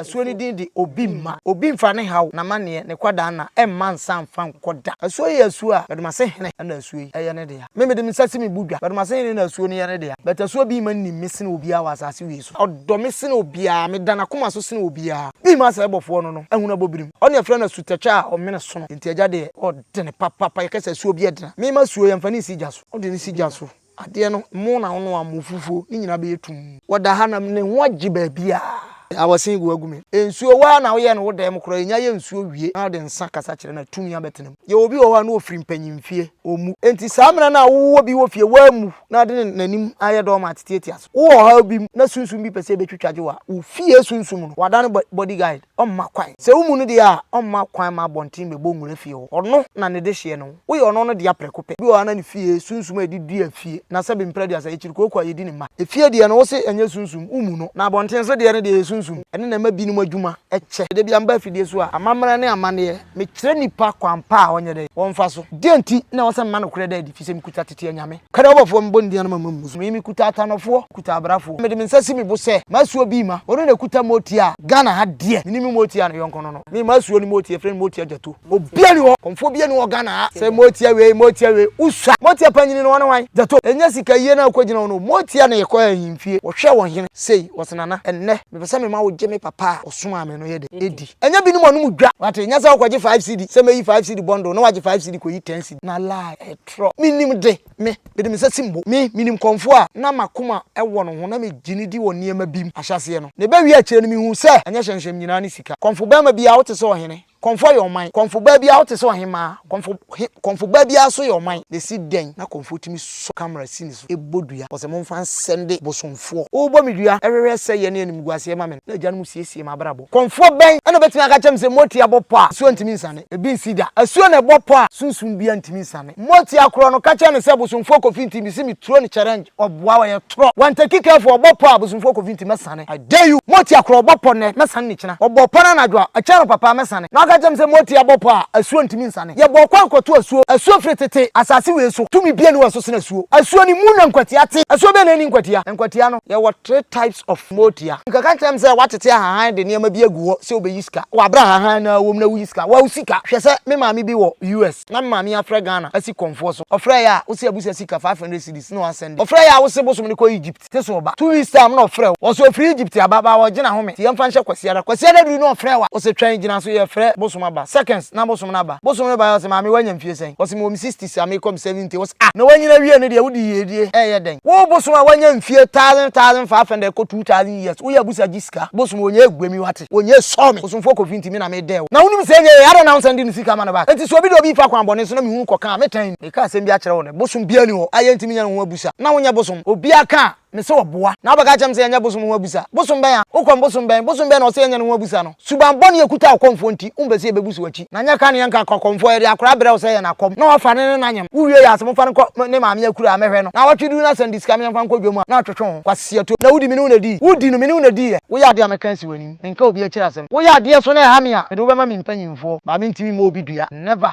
Asuo no din de Obi mma obi mfa ne haw, n'amaneɛ, ne kwadaanna mma nsa mfa nkɔ da. Asuo yi yɛ asuo a Bɛdomase hene na asuo yi yɛ ne dea. Me mede me nsa si me bo dwa, Bɛdomase hene na asuo no yɛ ne dea. But asuo Obi mma nim me sene obiara wɔ asase wei so. Ɔdɔ me sene obiara, meda n'akoma so sene obiara. Obi mma sɛ ɛbɔfoɔ no no ahunu abɔ birim. Ɔne yɛfrɛ no asutɛtwa a ɔmene sono. Enti agya deɛ ɔdene papapa, yɛka sɛ asuo bi adena. Me mma asuo yɛmfa no nsi gya so. Wode no si gya so Adeɛ no, mo na wonoa mo fufuo, ne nyinaa bɛyɛ tumm. Wɔda ha na ne ho agye baabiara. Awɔsen gu agu me. Nsuo, wo ara na woyɛɛ no wo dan mu koraa, ɛnya yɛ nsuo wie na wode nsa kasa kyerɛ no a, tumi abɛtena mu. Yɛwɔ obi wɔ hɔ a na ɔfiri mpanyinfie, ɔmmu. Enti saa mmerɛ no a wowɔ bi wɔ fie, wammu na ɔde ne n'anim ayɛ doormat tiatia so. Wowɔ ɔhaw bi mu na sunsum bi pɛ sɛ ɛbɛtwitwagye wo a, wo fie sunsum no, woadane body guide. ɔmma kwan. Sɛ wommu no deɛ a, ɔmma kwan ma abɔnten bɛbɔ nwura fie hɔ. Ɔno na ne dehyeɛ no, woyɛ ɔno no dea prɛko pɛ. Bi wɔ hɔ a na ne fie, sunsum a yɛde dua fie, na sɛbe mprɛ aduasa, ɛkyiri kooko a yɛdi ne mma. Efie deɛ no, wose ɛnyɛ sunsum, wommu no. Na abɔnten so deɛ no deɛ, ɛyɛ sunsum. Ɛno na ɛma binom adwuma kyɛ. Da biara meba afidie so a, amammerɛ ne amanneɛ, mekyerɛ nipa kwan pa a ɔnyɛ dɛn? Ɔmfa so. Deɛn nti na ɛwɔ sɛ mema nokorɛ da adi? Ɛfiri sɛ mekuta tete anyame. Kɛrɛ ɔbɔfoɔ mebɔ ne din ano ma mo ammu so. Me, mekuta atanɔfoɔ, mekuta abrafoɔ. Mede me nsa si me bo sɛ, m'asuo bi mma. Ɔno na ɛkuta mooti a, Ghana ha deɛ, menim mooti a ne yɔnko no no. Me, m'asuo ne mooti, yɛfrɛ no mooti agyato. Obiara nni hɔ, kɔmfoɔ biara nni hɔ Ghana ha sɛ mooti a wei, mooti a wei. Wosua? Mooti a panyini no, ɔne hwan? Gyato. Ɛnyɛ sika yie no a wokɔgyina ho no. Mooti a na yɛkɔ ahemfie, wɔhwɛ wɔn hene, sei, wɔse Nana, ɛnnɛ, mepɛ sɛ mema wogye me papa a ɔsomaa me no yɛ dɛ? Ɛdi. Ɛnyɛ binom anom dwa. Wate? Ɛnyɛ sɛ wokɔgye five cedi, sɛ mɛyi five cedi bundle, na wagye five cedi kɔyi ten cedi. Na lie, ɛto. foforɔ. Menim de, me, mede me nsa sim bo. Me, menim kɔmfoɔ a na m'akoma wɔ no ho na megye no di wɔ nneɛma bi mu ahyɛaseɛ no. Na ɛbɛwie akyire no, mehuu sɛ ɛnyɛ hyɛnhyɛm nyinaa ne sika. Kɔmfobarima biara, wote sɛ ɔhene. Kɔmfoɔ yɛ ɔman. Kɔmfobaa biara, wote sɛ ɔhemmaa. Kɔmfo, he, kɔmfobaa biara nso yɛ ɔman. Na ɛsi dɛn na kɔmfoɔ tumi sɔ kamera si ne so? to bɔ dua. Ɔse monfa nsɛnde bosomfoɔ. Wo bɔ me dua hwehwɛ sɛyɛ ne animguaseɛ ma me no, na agyanom siesie m'abrabɔ. Kɔmfoɔ bɛn na obetumi aka akyerɛ me sɛ Motia bɔ pɔ a asuo ntumi nsane? Ebi nsi da. Asuo na ɛbɔ pɔ a sunsum biara ntumi nsane. Motia korɔ no ka kyerɛ no sɛ bosomfoɔ kofi nti, mese me turo no challenge, ɔboa, ɔyɛ torɔ. Wanteki careful, ɔbɔ pɔ a bosomfoɔ kofi nti mɛsane. Adeyu, Moti akora ɔbɔ pɔ nnɛ, mɛsane no kyena. Ɔbɔɔ pɔ no anadwo a, ɛkyɛɛ no papa a, mɛsane. Na ɔka kyerɛɛ me sɛ, Moti abɔ pɔ a, asuo ntumi nsane. Yɛbɔɔ kwan kɔtoo asuo. Asuo firi tete. Asase wei so, tumi biara nni hɔ a ɛso sene asuo. Asuo no mu na nkwatia te. Asuo bɛn na ɛnni nkwatia? Nkwatia no, yɛwɔ three types of motia. Nka ka kyerɛ me sɛ woatete ahahan de nneɛma bi agu hɔ sɛ wobɛyi sika. Wɔ aberɛ a ahahan no ara wɔ mu na woyi sika. Wa wo sika. Hwɛ sɛ me maame bi wɔ US. Na me maame afrɛ Ghana asi kɔmfoɔ so. Ɔfrɛeɛ a, wo se abusa sika five hundred cedis na wa sɛnde. Ɔfrɛeɛ a, wo se bosom no kɔ Egypt. se so ɔba. Two weeks time na ɔfrɛ wo. Ɔse ɔfiri Egypt aba baa wɔ gyina home se yɛmfa nhyɛ Kwasiada. Kwasiada duru na ɔfrɛ wa. Ɔse twɛn gyina so yɛfrɛ Bosom aba. Seconds na Bosom no aba. Bosom no baeɛ ɔse maame wanya mfie sɛn? Ɔse mewɔ me sixties a mekɔ me seventy. Ɔse ah na wanyini awie no deɛ wode yiedie ɛɛyɛ dɛn? Wo Bosom a wanya mfie thousand thousand five hundred kɔ two thousand years woyɛ abusa gye sika? Bosom ɔnyɛ agua mi wate? Ɔnyɛ sɔ me. Bosomfoɔ Kofi nti me na medɛɛ wo. Na wonim se ɛnyɛ yei adɛn na wonsan de ne sika ma no back? Enti se obi de obi refa kwan bɔne so na mehunu kɔ kaa me tan mu. Meka asɛm bi akyerɛ wo nnɛ, bosom biara nni hɔ a yɛrentumi nyɛ no ho abusa. Na wonyɛ bosom. Obiara ka a, mise ɔboa. Na wobɛka akyerɛ me sɛ yɛnyɛ bosom ho abusa. Bosom bɛn a? Wo kɔm bosom bɛn? Bosom bɛn na ɔse yɛnyɛ no ho abusa no? Suban bɔne a ɛkuta wo kɔmfoɔ nti, wompɛ sɛ yɛbɛbuso w'akyi. Na nyɛ ka ne yɛnka ka kɔmfoɔ, yɛde akora brɛ wo sɛ yɛ n'akɔm, na wafa ne ne n'anyem. Wowie yɛ a, se momfa no nkɔ ne maame akura a mɛhwɛ no. Na awɔtwe duru no asan di sika me yɛmfa nkɔ dwam a, na ɔtwetwe ho. Kwasi atom. Na wodi me ne wo na dii? Wodi no, me ne wo na dii ɛ. Woyɛ adeɛ a mɛka asi w'anim. Menka obi akyiri asɛm. Woyɛ adeɛ so na ɛha me a, mede wo bɛma me mpanyimfoɔ. Maame ntumi mmɔ obi dua. Never.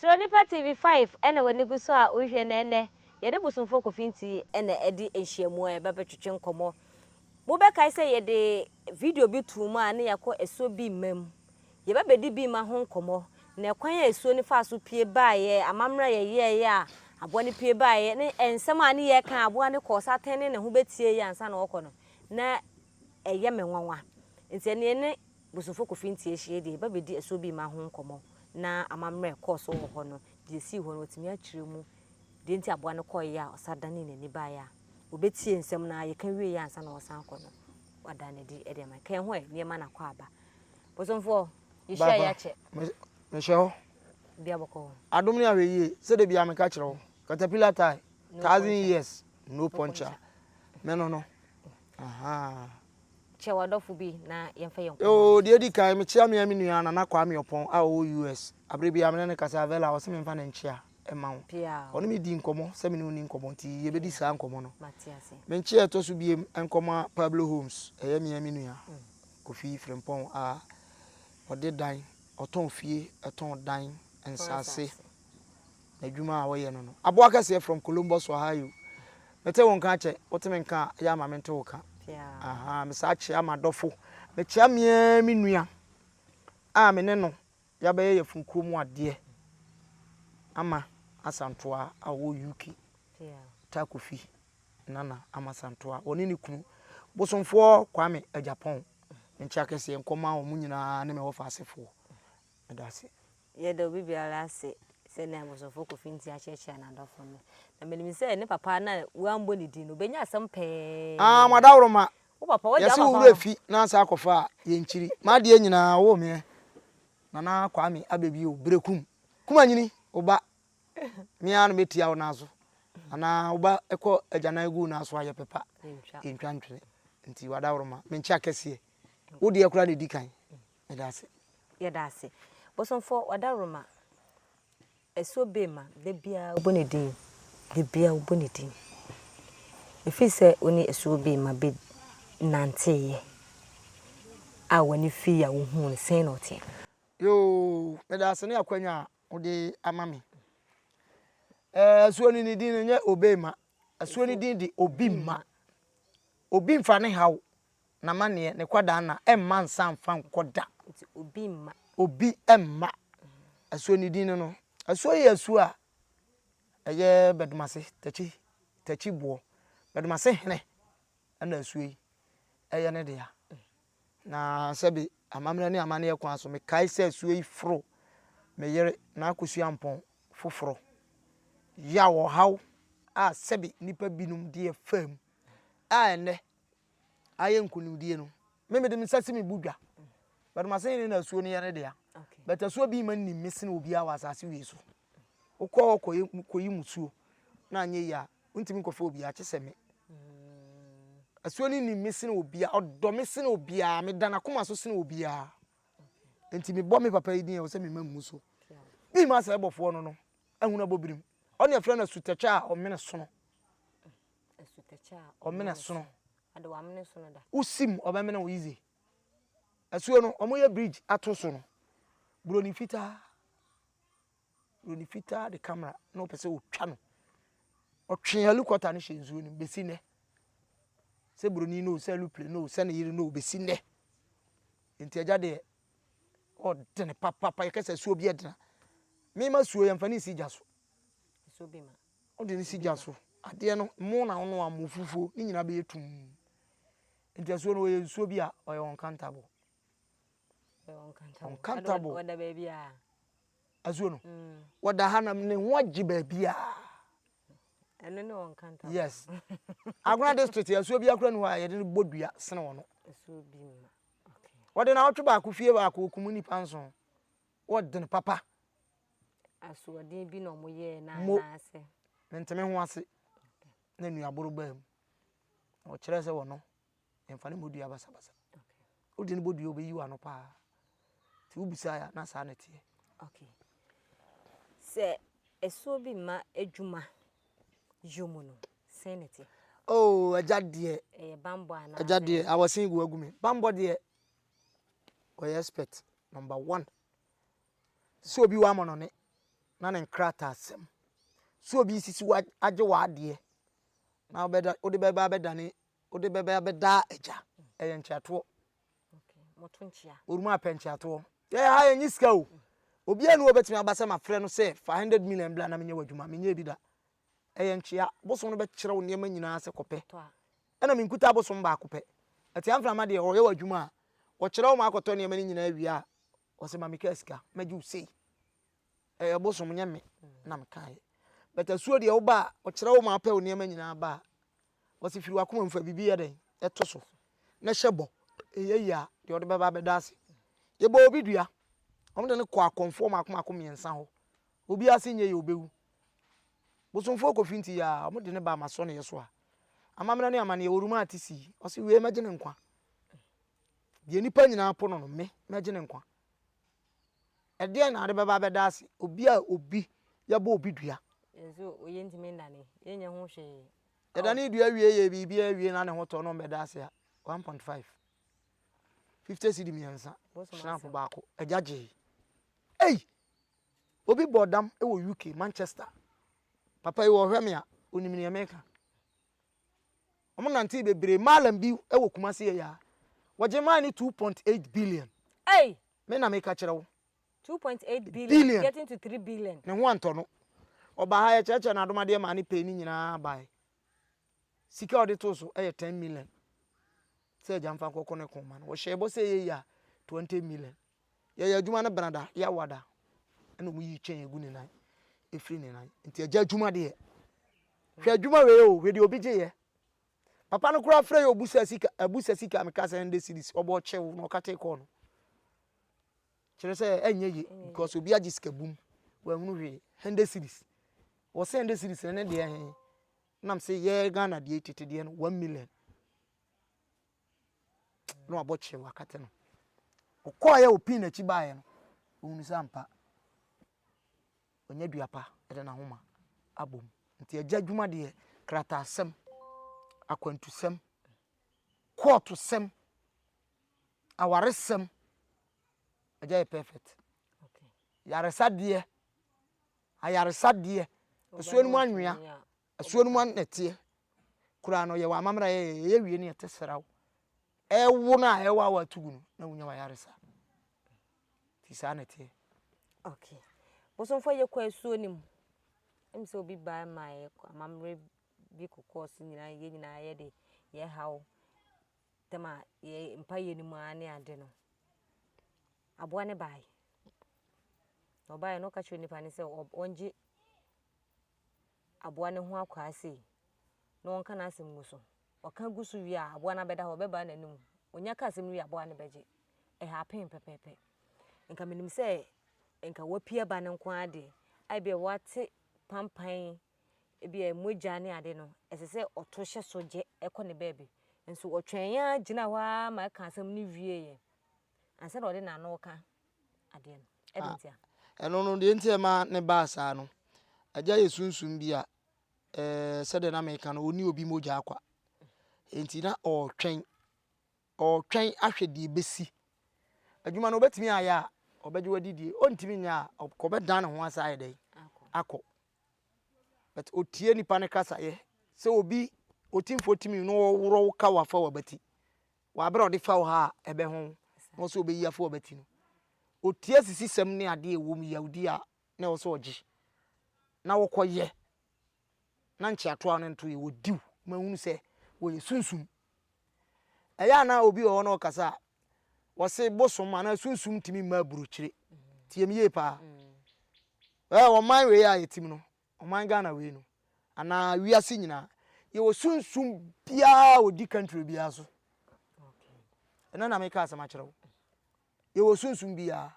Sɛ onipa TV five na w'ani gu so a wohwɛ na ɛnnɛ yɛne Bosomfoɔ Kofi Nti na adi nhyiamu a yɛbɛbɛtwetwe nkɔmmɔ. Mobɛkae sɛ yɛde video bi too mu a na yɛakɔ asuo bi mma mu. Yɛbɛbɛdi Bima ho nkɔmmɔ, na ɛkwan a asuo no faa so pue baeɛ, amammerɛ a yɛyɛeɛ a aboa no pue baeɛ, ne nsɛm a ne yɛ kaa a aboa no kɔɔ so atɛne ne ho bɛtieeɛ ansa na ɔrekɔ no, na ɛyɛ me nwanwa. Nti ɛnneɛ yɛne Bosomfo Kofi Ntieh hyiae deɛ yɛbɛbɛdi asuo Bima ho nkɔmmɔ, na amammerɛ a ɛkɔɔ so wɔ hɔ no, deɛ ɛsii hɔ no, watumi akyerɛ mu, deɛ nti a aboa no kɔeɛ a ɔsan danee n'ani baeɛ a ɔbɛtiee nsɛm no ara, yɛka wieeɛ ansa na ɔresan akɔ no, wada no adi de ama yɛn. Ka yɛn ho ɛ, nneɛma no akɔ aba. Bosomfoɔ, yɛhyia yɛ akyɛ. Mehyɛ hɔ. Bia bɔkɔ hɔ. Adom ne ahwɛ yie, sɛdeɛ bia meka kyerɛ wo. Caterpillar tie, thousand years, no puncture. Mɛno no. Ahaa. Kyɛ w'adɔfo bi na yɛmfa yɛn nkɔmmɔ no. Oh, deɛ edi kan, mekyea me ara me nua Nana Kwame Ɔpɔn a ɔwɔ US. Abere biara me ne no kasa, Vella, ɔse memfa no nkyea mma wo. Ɔne me dii nkɔmmɔ sɛ me ne wo nni nkɔmmɔ nti yɛbɛdi saa nkɔmmɔ no. Me nkyea a ɛtɔ so biam nkɔma Pablo Holmes, ɛyɛ me ara me nua. Kofi Frimpong a ɔde dan, ɔtɔn fie, ɔtɔn dan, nsaase. N'adwuma a ɔyɛ no no, aboa kɛseɛ from Columbus, Ohio. Mete wo nka akyɛ, wote me nka a, yɛ ama me nte wo ka. Aha, mesaa kyea m'adɔfo. Mekyea meaa me nua a me ne no Yɛabɛyɛ yafunu kuro mu adeɛ ama Asantewaa a ɔwɔ UK, Taa Kofi Nana Ama Santewaa, ɔne ne kunu, Bosomfoɔ Kwame Agyapong, nkyea kɛseɛ nkɔma wɔn nyinaa ne me wɔfa asefoɔ. Meda ase. Yɛda obi biara ase sɛnea Bosomfoɔ Kofi Nti akyerɛkyerɛ n'adɔfo no. Na menim sɛ ne papa no a wɔammɔ ne din no, ɔbɛnya asɛm pɛɛ. Ah, mo adaworoma. Yɛse wo werɛ fi na asan akɔfa a yɛnkyiri M'adeɛ nyinaa ɔwɔ me ɛ Nana Kwame abɛbi o Berɛ kum kumanyini wo ba Me ara na mɛtia wo nan so Anaa wo ba kɔ agyanan gu wo nan so a Yɛpɛ pa yɛntwa ntwene Nti w'adaworoma menkye akɛseɛ Wo deɛ koraa na ɛdi kan Meda ase. Yɛda ase. Bosomfoɔ w'adaworoma. Ɛso be ma da biara wobɔ ne din, da biara wobɔ ne din. Ɛfiri sɛ wo ne ɛso be ma be nanteeɛ a w'ani fii a wohuu no, sɛn na ɔteɛ? Yoo, meda ase ne akwanya a wode ama me. Eh, ɛsoɔ no ne din no nyɛ Obey ma, ɛsoɔ no din de Obi mma. Obi mfa ne haw N'amanneɛ, ne kwadaanna, mma nsa mfa nkɔ da. Nti obi mma. Obi mma. Asuo ne din no no. Asuo yi yɛ asuo a ɛyɛ Bɛdomase, Takyi, Takyi boɔ. Bɛdomase hene na asuo yi yɛ ne dea. Na sɛbe amammerɛ ne amanneɛ kwan so, mekae sɛ asuo yi foro me yere, N'Akosua Ampɔn, foforɔ. Yaw, ɔhaw a sɛbe nnipa binom deɛ faa mu a ɛnnɛ ayɛ nkunimdie no me mede me nsa si me bo dwa but ma sɛ ne na asuo no yɛ ne dea but asuo bi ma nim me sene obiara wɔ asase wei so wokɔ hɔ kɔyi musuo na anyɛ yi a wontumi nkɔfa obiara kye sɛ me asuo no nim me sene obiara ɔdɔ me sene obiara meda n'akoma so sene obiara nti mebɔ me papa yi din a wɔ sɛ mema mmu so mema sɛ ɛbɔfoɔ no no ahunu abɔbirim ɔne ɛfrɛ no asutɛkyɛ a ɔmene sono ɔmena sono wosim ɔbɛmena wo yize asuo no ɔmoyɛ bridge ato so no buroni fitaa buroni fitaa de camera na ɔpɛ sɛ ɔtwa no ɔtwe helicopter no hyɛ nsuo no bɛsi nnɛ sɛ buroni no sɛ aeroplane no sɛ ne yere no bɛsi nnɛ nti agya deɛ ɔdene papapa yɛkɛ sɛ asuo bi ɛdena mema suo yɛmfa ne nsi gya so Wode no si gya so. Adeɛ no, mmo na wonoa mmo, fufuo, ne nyinaa bɛyɛ tumm. Nti asuo no, ɔyɛ nsuo bi a ɔyɛ uncountable. Uncountable. Ɔda baabi a. Asuo no, ɔda ha na ne ho agye baabi a. Ɛno ne uncountable. Yes. Agona district, asuo bi akora ni hɔ a yɛde no bɔ dua sene wɔ no. Asuo bi mu. Wɔde na ɔtwe baako fie baako ɔkum nnipa nson. Wɔde no papa. Asoɔden bi na wɔn yɛɛ na anaasɛ. Mentumi ho ase na nnuaboro baa mu. Ɔkyerɛ sɛ wɔno mfa ne bɔdua basabasa. Wode ne bɔdua ɔbɛyi wano paa. Nti wobisa ya na saa na ɛteɛ. Okay. Sɛ ɛsoɔ bi ma adwuma yɔ mu no, sɛn na ɛteɛ? Oh, agya deɛ. Ɛyɛ bambɔ anaa? Agya deɛ, awɔsen gu agu me. Bambɔ deɛ, ɔyɛ expert, number one. sɛ obi wɔ amɔnɔne na ne nkrataasɛm, sɛ obi resisi wo agye w'adeɛ na wobɛda wode bɛba abɛdane wode bɛba abɛda agya ɛyɛ nkyeatoɔ oruma apɛ nkyeatoɔ yɛyɛ ha yɛnyi sika o obi anu obɛtumi aba sɛ mafrɛ no sɛ fa 100 million bla na menyɛ w'adwuma menyɛ bi da ɛyɛ nkyea bosom no bɛkyerɛ wo nneɛma nyinaa sɛ kɔpɛ ɛna menkuta bosom baako pɛ ɛte amframa deɛ ɔyɛ w'adwuma a wɔkyerɛ wo ma akɔtɔ nneɛma no nyinaa wie a Ɔse ma me kaa sika mɛgye wo sei. Ɛyɛ bosom nyɛ me na me kaeɛ. But asuo deɛ woba a ɔkyerɛ wo ma apɛ wo nneɛma nyinaa ba a ɔse firi wakoma mu fa biribi yɛ dɛn ɛto so na hyɛ bɔ ɛyɛ yie a deɛ ɔde bɛba bɛda ase. Yɛbɔɔ obi dua wɔn de no kɔɔ akɔmfoɔ mmaako mmaako mmiɛnsa hɔ obi ase nyɛ yie ɔbɛwu. Bosomfoɔ Kofi nti yɛ a wɔn de no baa m'asɔneɛ so a amammerɛ ne amaneɛ wɔruma ate sii ɔse wei mɛgye ne nkwa. Deɛ nnipa nyinaa po no no, me, mɛgye ne nkwa. Ɛdeɛn na ade bɛba abɛda ase? Obi a obi yɛbɔ obi dua. Nso yɛntumi nnane, yɛnyɛ ho hwee. Yɛdane dua wie yɛ biribi awie na ne ho tɔ no mbɛda ase a, 1.5. 50 cedi mmiɛnsa, shrimp baako, agya gyee. Ei! Obi bɔ dam wɔ UK, Manchester. Papa yi wɔhwɛ me a, onim nea meka. Ɔmo nantee bebree maalam bi wɔ Kumasi ɛyɛ a wɔgye maae no two point eight billion. Ei! Me na meka kyerɛ wo. Two point eight billion, billion getting to three billion. Ne ho antɔ no. Ɔbaa ha yɛkyerɛkyerɛ no adomadeɛ maa ne pay no nyinaa bae. Sika a ɔde too so yɛ ten million sɛ agya mfa nkɔkɔ ne ko mma no. Wɔhyɛɛ bɔ sɛ ɛyɛ yie a twenty million. yɛyɛ adwuma no benada yɛ awada ɛna ɔmo yi kyɛn egu ne nan efiri ne nan nti ɛgya adwuma deɛ hwɛ adwuma wei o hwɛ deɛ obi gye yɛ papa no koraa frɛ yɛ obusa sika abusa sika mi ka sɛ ɛnde series ɔbɔ ɔkyew na ɔkate kɔɔ no kyerɛ sɛ ɛnyɛ ye because obi agye sika bum wɔahunu hwee ɛnde series wɔsɛ ɛnde series ne deɛ hɛn nam sɛ yɛ Ghana deɛ tete deɛ no one million. na wabɔ kyerɛ wakata no. Ɔkɔɔ yɛ opii n'akyi baeɛ no, ɔhunu sɛ ampa ɔnya dua pa de n'ahoma abom. Nti agya adwuma deɛ krataasɛm, akwantusɛm, kɔɔtosɛm, awaresɛm, agya yɛ perfect. Yaresadeɛ, ayaresadeɛ, ɛsoɔ no mu anwea, Asuo no mu a na ɛteɛ koraa no yɛwɔ amammerɛ a ɛyɛ wie ne ɛte sraw. Ɛwo no a ɛwɔ a wɔatu gu no na wonya w'ayaresa. Nti saa na ɛteɛ. Okay. Bosomfoɔ yɛkɔ asuo no mu. Ɛmu sɛ obi baa ma yɛkɔ amammerɛ bi kokɔɔ so nyinaa yɛn nyinaa yɛde yɛhaw tam a yɛ mpayɛ no mu ara ne ade no. Aboa no baeɛ. Ɔbaeɛ no ɔka kyerɛ nipa no sɛ ɔngye aboa no ho akwaa sei na ɔnka n'asɛm ngu so. Ɔka gu so wie a, aboa no abɛda hɔ, ɔbɛbaa n'anim. Onya ka asɛm no wie a, aboa no bɛgye. Ɛhapen pɛpɛɛpɛ. Nka menim sɛ nka wapia ba no nko ara deɛ, a ebia wate pampan, ebia mogya ne ade no, ɛsɛ sɛ ɔto hyɛ so gye kɔ ne baabi. Nso ɔtwɛn ara gyina hɔ ara ma ɛka asɛm no wieeɛ ansa na ɔde n'ano reka. adeɛ no ɛde ah, ntia ɛno no deɛ nti ɛma ne baa saa no agya yɛ sunsum bi a ɛɛ sɛdeɛ na meka no ɔni obi mogya akwa nti na ɔretwɛn ɔretwɛn ahwɛ deɛ ɛbɛsi adwuma no ɔbɛtumi ayɛ a ɔbɛgye wadi die ɔntumi nyɛ a ɔbɛdan ne ho asa ayɛ dɛn akɔ but ɔtie nipa no kasayɛ sɛ obi ɔtimfoɔ timi no ɔworɔ wo ka wafa wabati W'aberɛ a ɔde fa wo ha a ɛbɛ ho wo na ɔsɛ ɔbɛyi afɔ ɔbɛ ti no ɔtie asisisɛm ne adeɛ ɛwɔ mu yawdie a na ɛwɔ sɛ ɔgye na ɔkɔ yɛ na nkyeatoɔ a na nto yɛ wɔ diw ma hunu sɛ wɔ yɛ sunsum ɛyɛ a na obi wɔ hɔ na ɔkasa a wɔse bosom anaa sunsum ntumi mma aburokyire tie me yie paa ɛɛ ɔman wei a yɛtim no Ɔman Ghana wei no anaa wiase nyinaa yɛwɔ sunsum biara a ɔdi country biara so. Ɛnɛ na meka asɛm akyerɛ wo. Yɛwɔ sunsum biara.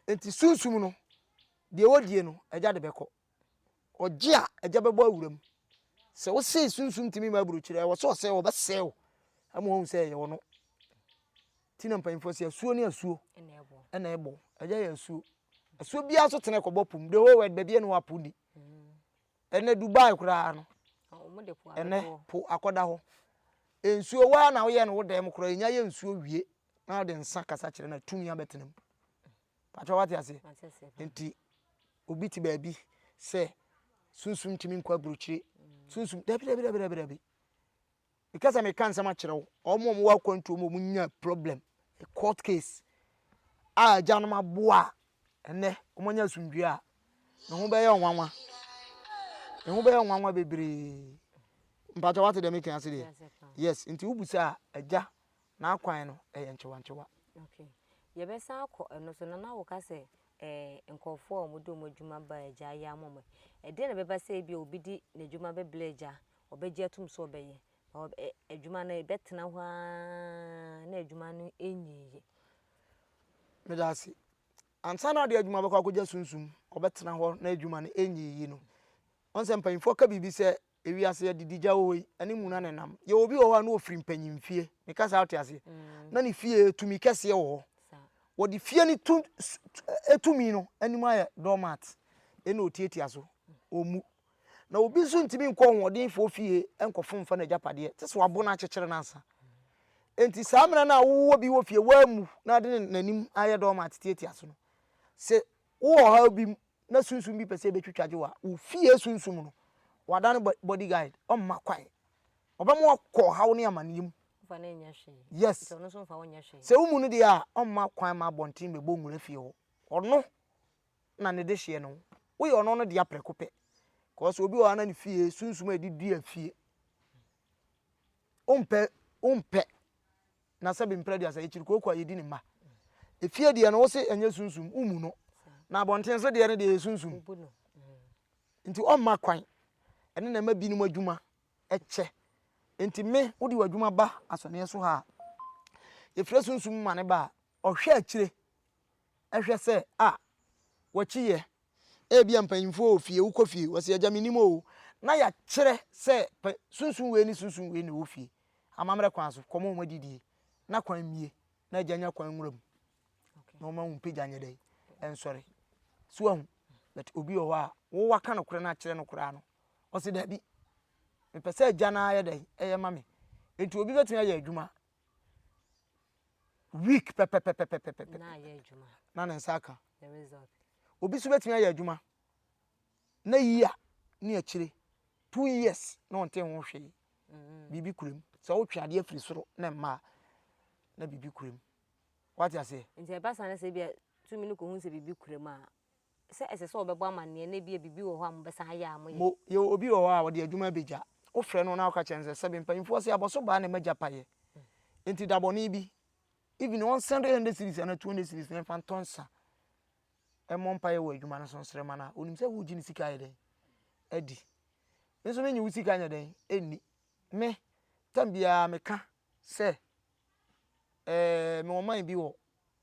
Nti sunsum no deɛ wɔdie no agya de bɛkɔ. Ɔgye a agya bɛbɔ awuram. Sɛ wosee sunsum tumi ma aburokyire a ɛwɔ sɛ ɔsɛe ɔbɛsɛe wo ama wahu sɛ ɛyɛ ɔno. Ti na mpanyinfoɔ sɛ asuo ne asuo ɛna ɛbɔ ɛyɛ yɛ asuo asuo biara nso tena ɛkɔbɔ po mu the whole world baabi ɛna wapo ni ɛnɛ Dubai koraa no ɛnɛ po akɔda hɔ nsuo waa na woyɛ no wo dan mu koraa enya yɛ nsuo wie na ɔde nsa kasa kyerɛ na tumi abɛtena mu patwa wate aseɛ nti obi te baabi sɛ sunsum tumi nkɔ aburokyire sunsum dabi dabi dabi dabi dabi. Meka sɛ meka nsɛm akyerɛ wo, wɔn a wɔwɔ akwantuo mu a wɔnya problem, a court case a agyanom aboa a ɛnɛ wɔanya asomdwoeɛ a, ne ho bɛyɛ nwanwa. Ne ho bɛyɛ nwanwa bebree. Mpakyɛ wate deɛ meka ase deɛ? Yes, nti wobusa a, agya N'akwan no yɛ nkyewantyewa. Ok. Yɛbɛsan akɔ ɛno so. Na na woka sɛ eh, nkurɔfoɔ a wɔde wɔn adwuma ba Agya ayɛ ama wɔn. Ɛdeɛn na ɛbɛba sɛ ebia obi de n'adwuma bɛbrɛ Agya, ɔbɛgye atom sɛ ɔbɛyɛ, na ɔ, ɛ, adwuma no ɛbɛtena hɔ ara na adwuma no nyiiɛ? Meda ase. Ansa na ɔde adwuma bɛkɔ akɔgya sunsum, ɔbɛtena hɔ na adwuma no nyiiɛ no, woahu sɛ mpanimfoɔ ka biribi sɛ, Ewiase adidija wɔ hɔ yi, ɛne muna na ɛnam. Yɛwɔ obi wɔ hɔ a na ɔfiri mpanyin fie, me kasa a wote aseɛ? Na ne fie tumi kɛseɛ wɔ hɔ. Wɔde fie no tu tumi no anim ayɛ doormat, ɛna ɔtiatia so, ɔmmu. Na obi nso ntumi nkɔ ɔhoɔdenfoɔ fie nkɔfom mfa n'agyapadeɛ, gye sɛ wɔabɔ no akyekyere no ansa. Enti saa mena no a wowɔ bi wɔ fie, woammu, na ɔde n'anim ayɛ doormat tiatia so no, sɛ wowɔ ɔhaw bi mu na sunsum bi pɛ sɛ ebetwitwagye wo a, wo fie sunsum no, wɔada no body guide, ɔmma kwan. Ɔbɛma wakɔ ɔhaw ne amanneɛ mu. Fa no nyɛ hwee. Yes. Nti ɔno nso mfa wo nyɛ hwee. Sɛ wo mu no deɛ a, ɔmma kwan ma abɔnten bɛbɔ nwura fie hɔ. Ɔno na ne dehyeɛ ne wo. Woyɛ ɔno no dea prɛko pɛ. Cause obi wɔ hɔ a na ne fie sunsum a ɛde dua fie. Wompɛ, wompɛ. na sɛbe mpra aduasa yɛ kyiri kooko a yɛdi ne mma. Efie deɛ no wo se ɛnyɛ sunsum, wo mu no. Na abɔnten so deɛ no deɛ ɛyɛ sunsum. Nti ɔmma kwan. Ɛno na ɛma binom adwuma kyɛ. Nti me, wode w'adwuma ba asɔneɛ so ha a, yɛfrɛ sunsum ma no ba a, ɔhwɛ akyire. hwɛ sɛ a wɔkyi yɛ. Ebia mpanyimfo wɔ fie, wokɔ fie, wɔse agya mennim oo, na yɛakyerɛ sɛ pɛ sunsum wei ne sunsum wei na ɛwɔ fie, amammerɛ kwan so, kɔma wɔn adidie, na kwan mmie, na agya nya kwan nwura mu, na wɔma wo mpagya nyɛ dɛn, ɛnsɔre. So ahu, but obi wɔ hɔ a, wo waka no korɛ no akyerɛ no koraa no, ɔse daabi, mepɛ sɛ agya no ara yɛ dɛn, ɛyɛ ma me. Enti obi bɛtumi ayɛ adwuma, week pɛpɛpɛpɛpɛpɛ na ayɛ adwuma na ne nsa aka the result obi nso bɛtumi ayɛ adwuma na yia ne akyire two years na ɔnte ho hwee biribi kura mu sɛ wotwe adeɛ firi soro na mmaa na biribi kura mu wate aseɛ nti ɛba saa no sɛ bia tumi no kɔhu sɛ biribi kura mu a sɛ ɛsɛ sɛ wɔbɛbɔ amanneɛ na ebia biribi wɔ hɔ a mobɛsan ayɛ a moyɛ. Mpo, yɛwɔ obi wɔ hɔ a ɔde adwuma abegya. Wofrɛ no na woka kyerɛ no sɛ, Sɛbe, mpanyimfoɔ se abɔso baa na magya payɛ, enti dabɔne bi, even ɔnsɛnde hundred cedis anaa two hundred cedis na ɛmfa ntɔ nsa mmɔ mpaeɛ wɔ adwuma no so nsrɛ mma no a, onim sɛ woregye ne sika ayɛ dɛn? Adi. Me nso mennye wo sika nyɛ dɛn? Nni. Me, tam biara meka sɛ, ɛɛ, mewɔ man bi wɔ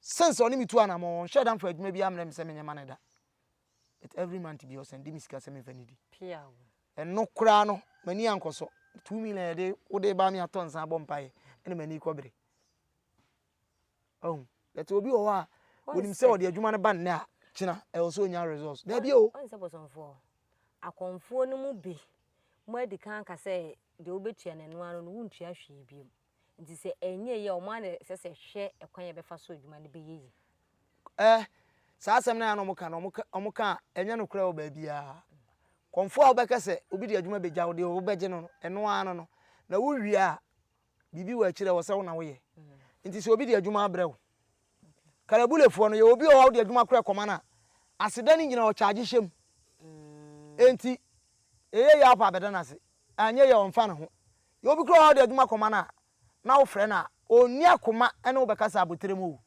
Since ɔne me tu anamɔn, ɔnhyɛ da mfa adwuma biara mmrɛ me sɛ menyɛ ma no da. But every month biara ɔsan di me sika sɛ memfa nnidi. Ɛno koraa no, m'ani ankɔ so. Two million a yɛde wode reba me atɔ nsa abɔ mpaeɛ na m'ani rekɔbere. Wahu? But obi wɔ hɔ a, onim sɛ ɔde adwuma no ba nnɛ a, kyena ɛwɔ sɛ ɔnya results. Daabi o! Ɔn sɛ bosomfoɔ, akɔmfoɔ no mu bi, moadi kan aka sɛ deɛ wobɛtua no ɛno ara no, wontua hwee bio. Nti sɛ ɛnyɛ eyi a, wɔn ara na ɛsɛ sɛ ɛhwɛ ɛkwan a yɛbɛfa so adwuma no bɛyɛ yiye. Eh, saa asɛm no ara na wɔka no, wɔka, wɔka a, ɛnyɛ nokorɛ wɔ baabiara. Kɔmfoɔ a wobɛka sɛ obi de adwuma bɛgya wo deɛ wobɛgye no no, ɛno ara no no. Na wowie a, biribi wɔ akyiri a ɛwɔ sɛ wo na woyɛ. Nti sɛ obi de adwuma abrɛ wo. Kalabulefoɔ no, yɛwɔ obi wɔ hɔ a wode adwuma korɛ kɔma no a, aseda no nyinaa ɔkyagye hyɛ mu. Enti, ɛyɛ yie a wopɛ a bɛda no ase, anyɛ yie a ɔmfa ne ho. Yɛwɔ obi koraa wɔ hɔ a wode adwuma kɔma no a, na wofrɛ no a, ɔnni akoma ne wo bɛkasa abotire mu o.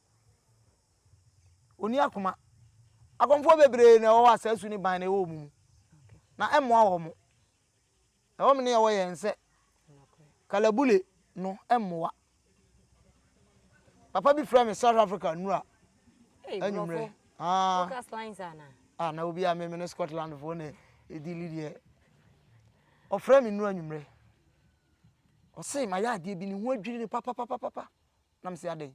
Ɔnni akoma. Akɔmfoɔ bebree na ɛwɔ hɔ a saa su ne ban no ɛwɔ wɔn mu, na ɛmmoa wɔn. Ɛwom nea ɛwɔ yɛn sɛ kalabule no mmoa. Papa bi frɛ me South Africa nnura anwummerɛ. Ah, ah, na obi a meme ne Scotland foɔ na ɛdi li deɛ. Ɔfrɛ me nnura anwummerɛ. Ɔse ma yɛ adeɛ bi ne ho adwiri ne papapapapa. Na mese adɛn?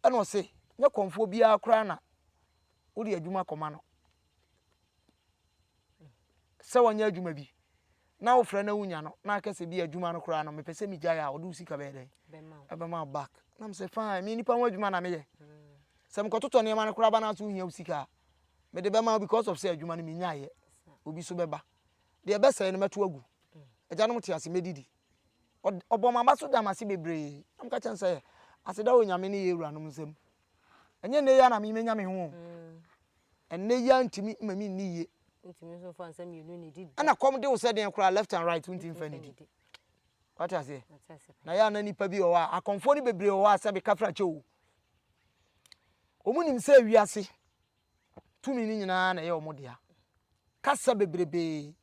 Ɛna ɔse nyɛ kɔmfoɔ biara koraa na wode adwuma kɔma no. sɛ ɔnyɛ adwuma bi na wofrɛ na wonya no na aka sɛ bi adwuma no koraa no mepɛ sɛ megyae a ɔde wo sika bɛyɛ dɛn ɛbɛma wo back na m sɛ fine me nipa ho adwuma na meyɛ sɛ mekɔtotɔ nneɛma no koraa ba no aso wohia wo sika a mede bɛma wo because of sɛ adwuma no menyaeɛ obi so bɛba deɛ ɛbɛsɛe no mɛto agu agyanom te ase mɛdidi ɔbɔ maba so da mase bebree na mka kyɛn sɛ aseda wɔ nyame ne yɛ awuranom nsam Ɛnyɛ nnɛ yi ara na me menya me ho o. Ɛnnɛ yi ara ntumi mma me nni yie. Ɛna kɔm de wo sɛ deɛn koraa left and right wontumi mfa nnidi. Wate aseɛ? Na yɛ a na nnipa bi wɔ hɔ a akɔmfoɔ no bebree wɔ hɔ a sɛbe kafrakyɛ o. Wɔn nim sɛ wiase tumi no nyinaa na ɛyɛ wɔn dea. Kasa bebrebee.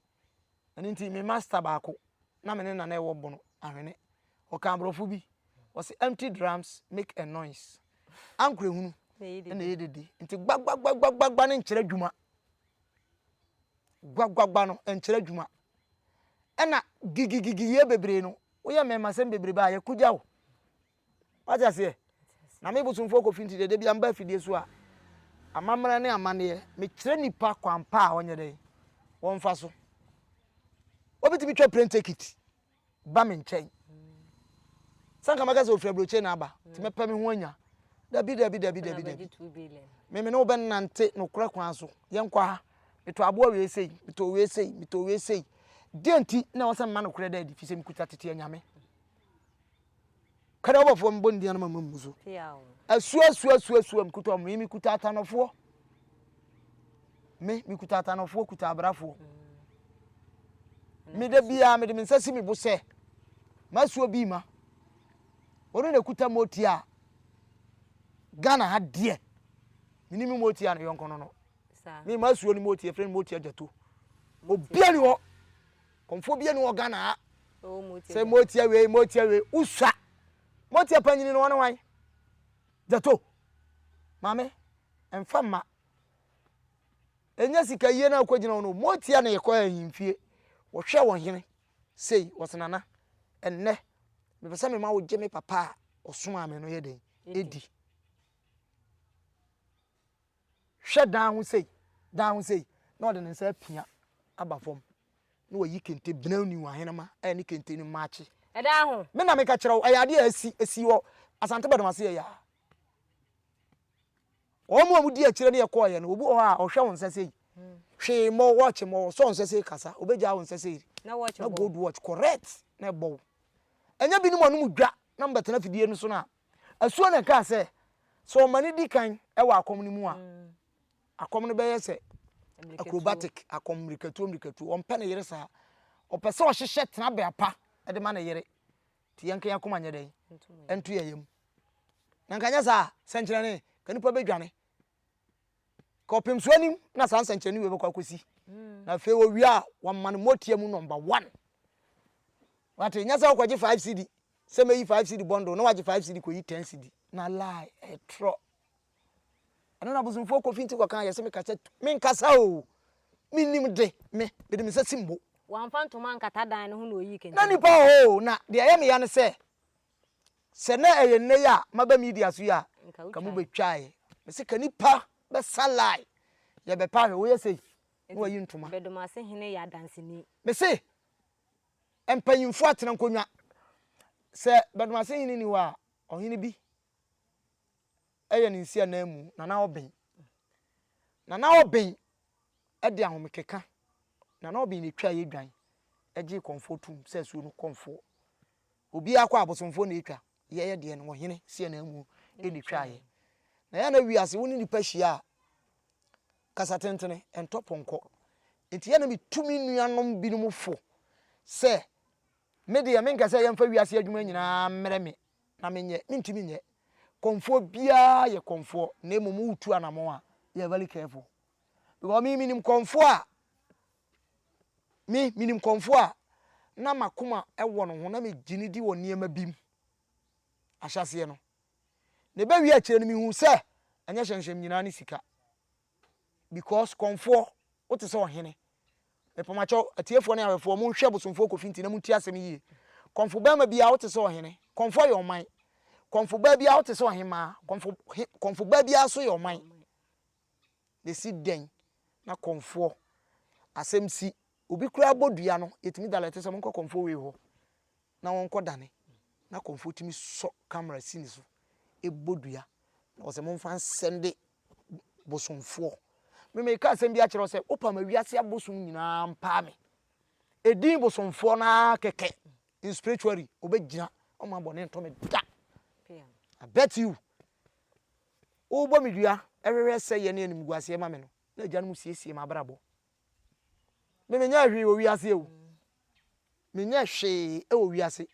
Ɛno nti me master baako na me ne na na ɛwɔ bono ahwene ɔka aborɔfo bi ɔse empty drums make a noise ankorɛ hunu ɛna ɛyɛ dede nti gbagbagbagbagbagba no nkyerɛ adwuma gbaggbagba no nkyerɛ adwuma ɛna gigigigiyɛ bebree no woyɛ mmɛmasɛm bebrebe a yɛkogya wo Wate aseɛ? Na me bosomfoɔ kɔ finti dɛ, da bi a meba afidie so a, amammerɛ ne amanneɛ, mekyerɛ nipa kwan pa a wɔnyɛ dɛ, wɔmfa so. Wɔbɛtumi twa plane ticket ba me nkyɛn. Sɛ nka mɛka sɛ ofiri aburokye na aba, nti mɛpɛ me ho anya. Dabi, dabi, dabi, dabi, dabi. Me me ne wo bɛnante nokorɛ kwan so. Yɛnkɔ ha. Metɔ aboa wei sei, metɔ wei sei, metɔ wei sei. Deɛ nti na ɛwɔ sɛ mema nokorɛ da adi? Firi sɛ mekuta tete anyame. Kɛrɛ ɔbɔfoɔ me bɔ ne din anoma mu mmu so. Asuo asuo asuo asuo mekuta ɔmo yi mekuta atanofoɔ. Me mekuta atanofoɔ kuta abrafoɔ. Me da biara mede me nsa si me bo sɛ masuo bi ma. Ɔno na ekuta mu oti a Ghana ha deɛ. Me ni me mu oti a ne yɔnko no no. Me masuo ne mu oti efirɛ ne mu oti agyato. Obiara ni hɔ. Kɔmfoɔ bia ni wɔ Ghana ha sɛ motia wei motia wei wosua motia panyini no ɔne wan gyato maame mfa mma ɛnyɛ sika yie na akɔgyina wo no motia na yɛkɔ ahemfie wɔhwɛ wɔ hene sei wɔse nana ɛnnɛ mepɛ sɛ mema wo gye me papa a ɔsomaa me no yɛ dɛn ɛdi Hwɛ dan ho sei, dan ho sei, na ɔde ne nsa apia aba fam, na wayi kente benenni wɔ ahenemma a ne kente no maakye. Ɛdan ho. Me na meka kyerɛ wo, ɛyɛ adeɛ a asi, asi wɔ Asante Badum ase ɛyɛ a. Wɔn a wɔdi akyire ne yɛkɔɔeɛ no, obi wɔ hɔ a ɔhwɛ wo nsa sei, hwee mmɔ, watch mmɔ, ɔsɔ nsa sei kasa, ɔbɛgyaa wo nsa sei, na gold watch, correct, na ɛbɔ wo. Ɛnyɛ binom a wɔnom dwa na wɔbɛtena afidie no so no a Asuo na ɛkaa sɛ, sɛ ɔma no di kan wɔ akɔm no mu a, akɔm no bɛyɛ sɛ acrobatic akɔm, mmirikatuo mmirikatuo. Ɔmpɛ ne yere saa. Ɔpɛ sɛ ɔhyehyɛ tenabea pa de ma ne yere. Nti yɛnka yɛn akoma nyɛ dɛn? Ɛnto yɛn yam. Na nka nyɛ saa a, sɛnkyerɛnne, nka nnipa bɛdwane. kɔpem so anim na saa nsɛnkyerɛnne wei bɛkɔ akɔsi hmm. na afei wɔwie a wɔma no mɔteɛ mu nɔmba one wate nyɛ sɛ wokɔgye 5 cd sɛ mɛyi 5 cd bɔndo na wagye 5 cd kɔyi 10 cd na lie ɛtrɔ ɛno na bosomfoɔ kɔfi nti kɔka yɛ sɛ meka sɛ menkasa o menim de me mede me sɛ simbo wamfa ntoma nkata dan no ho na ɔyii kɛntɛn na nipa hɔ na deɛ ɛyɛ meya ne sɛ Sɛ na ɛyɛ nnɛ yi a maba media so yi a nka mo betwae. Mese ka nipa bɛsa line yɛ bɛpa hwɛ woyɛ sei na wayi ntoma. Bedomase hene yɛ adanseni. Mese mpanyinfoɔ atena nkonwa. Sɛ Bedomase hene ni hɔ a ɔhene bi ɛyɛ ne nsi anan mu Nana Oben. Nana Oben ɛde ahomekeka Nana Oben na etwaa yɛ dwan ɛgyee kɔnfoɔ toom sɛ asuo no kɔnfoɔ Obiara kɔ a abosomfoɔ na ɛtwa, yɛyɛ deɛ no ɔhene Sianaamu na ɛtwaeɛ. Na yɛ a na wiase wo ne nipa hyia a kasa tentene, ɛntɔ pɔnkɔ. Nti yɛ a na metu me nuanom binom fo sɛ me deɛ menkɛ sɛ yɛmfa wiase adwuma nyinaa mmrɛ me na menyɛ, mentumi nyɛ. Kɔmfoɔ biara yɛ kɔmfoɔ na mmom wotu anamɔn a you are very careful because me menim kɔmfoɔ a Me, minim kɔmfoɔ a na m'akoma wɔ no ho na megye no di wɔ nneɛma bi mu ahyɛaseɛ no, na ɛbɛwie akyire no mehuu sɛ ɛnyɛ hyɛmhyɛm nyinaa ne sika. Because kɔmfoɔ, wo te sɛ ɔhene. Mepamakyɛw, atiefoɔ ne awɛfoɔ, monhwɛ bosomfoɔ kofi nti na montie asɛm yie. Kɔmfo barima biara wo te sɛ ɔhene. Kɔmfoɔ yɛ ɔman. Kɔmfo baa biara wo te sɛ ɔhemmaa. Kɔmfo, he, kɔmfo baa biara nso yɛ ɔman. na ɛsi dɛn na kɔmfoɔ asɛm si? Obi koraa bɔ dua no, yɛtumi dalɛte sɛ monkɔ kɔmfoɔ wei hɔ na wɔnkɔ dane, na kɔmfoɔ tumi sɔ camera si ne so, ɛbɔ dua, na wɔsɛ momfa nsɛnde bosomfoɔ. Me meka asɛm bi akyerɛ sɛ wopa ma wiase abosom nyinaa mpaa me. Ɛdin bosomfoɔ no ara kɛkɛ in spiritually, ɔbɛgyina ɔma bɔne ntɔ me da. I bet you. Wobɔ me dua hwehwɛ sɛ yɛ ne animguaseɛ ma me no, na agyanom siesie m'abrabɔ. Me menyɛɛ hwee wɔ wiase o. Menyɛ hwee wɔ wiase.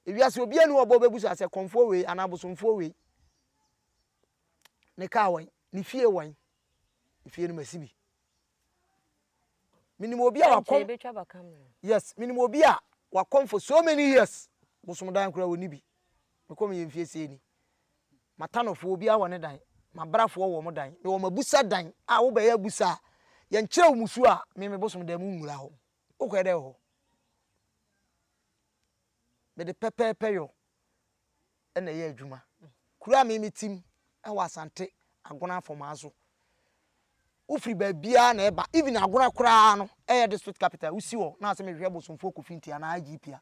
Ewiase obiara ni ɔbɔ bɛbu so asɛ kɔmfoɔ wei anaa bosomfoɔ wei. Ne kaa wɔn, ne fie wɔn. Efie no masi bi. menim obi a wakɔm yes menim obi a wakɔm for so many years bosom dan koraa wɔni bi mekɔm yɛ mfie sei ni matanɔfoɔ obiara wɔ ne dan mabrafoɔ wɔ mo dan mewɔ mabusa dan a wobɛyɛ abusa a yɛnkyerɛ wo musuo a me me bosom dan mu nwura hɔ wokɔɛ dɛ wɔ hɔ mede pɛpɛɛpɛ yɔ na ɛyɛ adwuma. Kuro a me metim ɛwɔ Asante Agona Afomaso. Wofiri baabiara na ɛba. Even Agona koraa no ɛyɛ district capital. Wosi hɔ na asɛ mehwehwɛ Bosomfoɔ Kofi Nti anaa IGP a.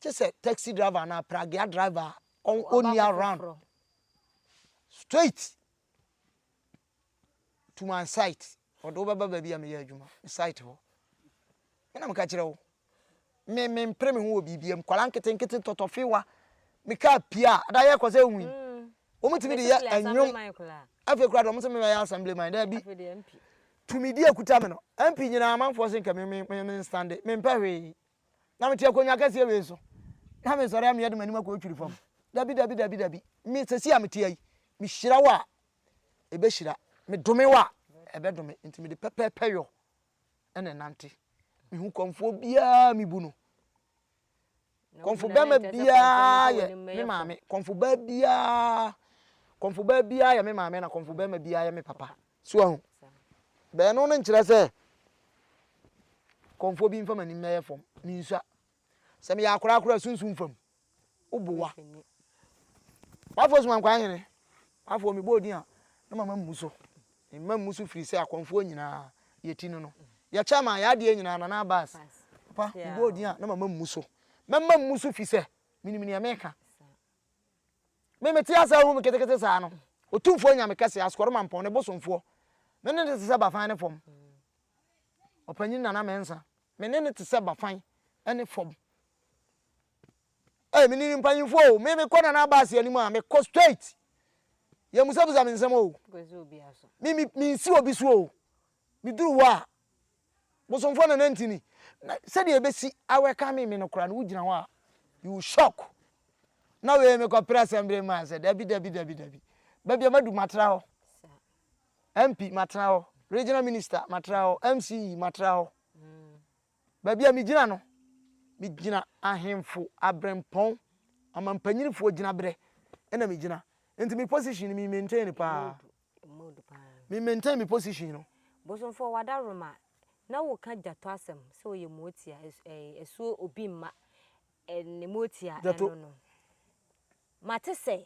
Gye sɛ taxi driver anaa pragea driver a ɔnni around. Straight. to my site ɔde wo bɛba baabi a meyɛ adwuma me site hɔ ɛna meka kyerɛ wo me me mpere me ho wɔ biribi mu kwala nkete nkete tɔtɔfewa me kaa pia ada yɛ kɔ sɛ nwi mm. wɔn tumi de yɛ ɛnwom afei kura de wɔn sɛ mebɛyɛ assembly man dɛ bi tumi di akuta me no mp nyinaa amanfoɔ se nka me me me me nstande me mpɛ hwee na mete akonnwa kɛseɛ wei so na mesɔre a meyɛ de m'anim akɔ otwiri fam dabi dabi dabi dabi me sɛsi a mete ayi mehyira wo a ɛbɛhyira, medome wo a, ɛbɛdome, nti mede pɛpɛɛpɛ yɔ na ɛnante. Mehu kɔmfoɔ biara a mebu no. Kɔmfo bɛrima biara yɛ me maame, kɔmfo baa biara, kɔmfo baa biara yɛ me maame na kɔmfo bɛrima biara yɛ me papa. So ahu? Bɛɛno no nkyerɛ sɛ kɔmfoɔ bi mfa m'anim mɛyɛ fam, mensua. Sɛ meyɛ akoraa koraa sunsum fam, wo boa. W'afoɔ soma nkwa hene, w'afoɔ mebɔ odin a na mama mmu so. Mma mmu so firi sɛ akɔmfoɔ nyinaa yɛ ti no no. Yɛ chairman yɛ adeɛ nyinaa Nana Abass. Papa mebɔ odin a na mama mmu so. Mɛma mmu so firi sɛ menim deɛ meka. Me mete ase ahu me ketekete saa no. Otumfoɔ Nyame kɛseɛ Asoɔremampɔn ne bosomfoɔ. Me ne no te sɛ bafan ne fam. Ɔpanyin Nana Mensah. Me ne no te sɛ bafan ne fam. Ei me nim mpanyinfoɔ o, me mekɔ Nana Abass anim a mekɔ straight. Yɛmmusabusa me nsɛm o. Me me mensi obi so o. Meduru hɔ a, bosomfoɔ Nana Ntini, na sɛdeɛ ɛbɛsi a welcome me no koraa no wogyina hɔ a you will shock. Na wei mekɔpere Assembly man sɛ dabi dabi dabi dabi. Baabi a madu matena hɔ. MP matena hɔ, Regional Minister matena hɔ, MCE matena hɔ. Baabi a migyina no, migyina ahemfo, aberempɔn, ɔmampanyinfoɔ gyinaberɛ na megyina. Nti me position no me maintain no paa. Me maintain me position no. Bosomfoɔ w'adaworoma na woka Gyato asɛm sɛ ɔyɛ muotia asuo obi mma ne muotia ɛno no. Mate sɛ.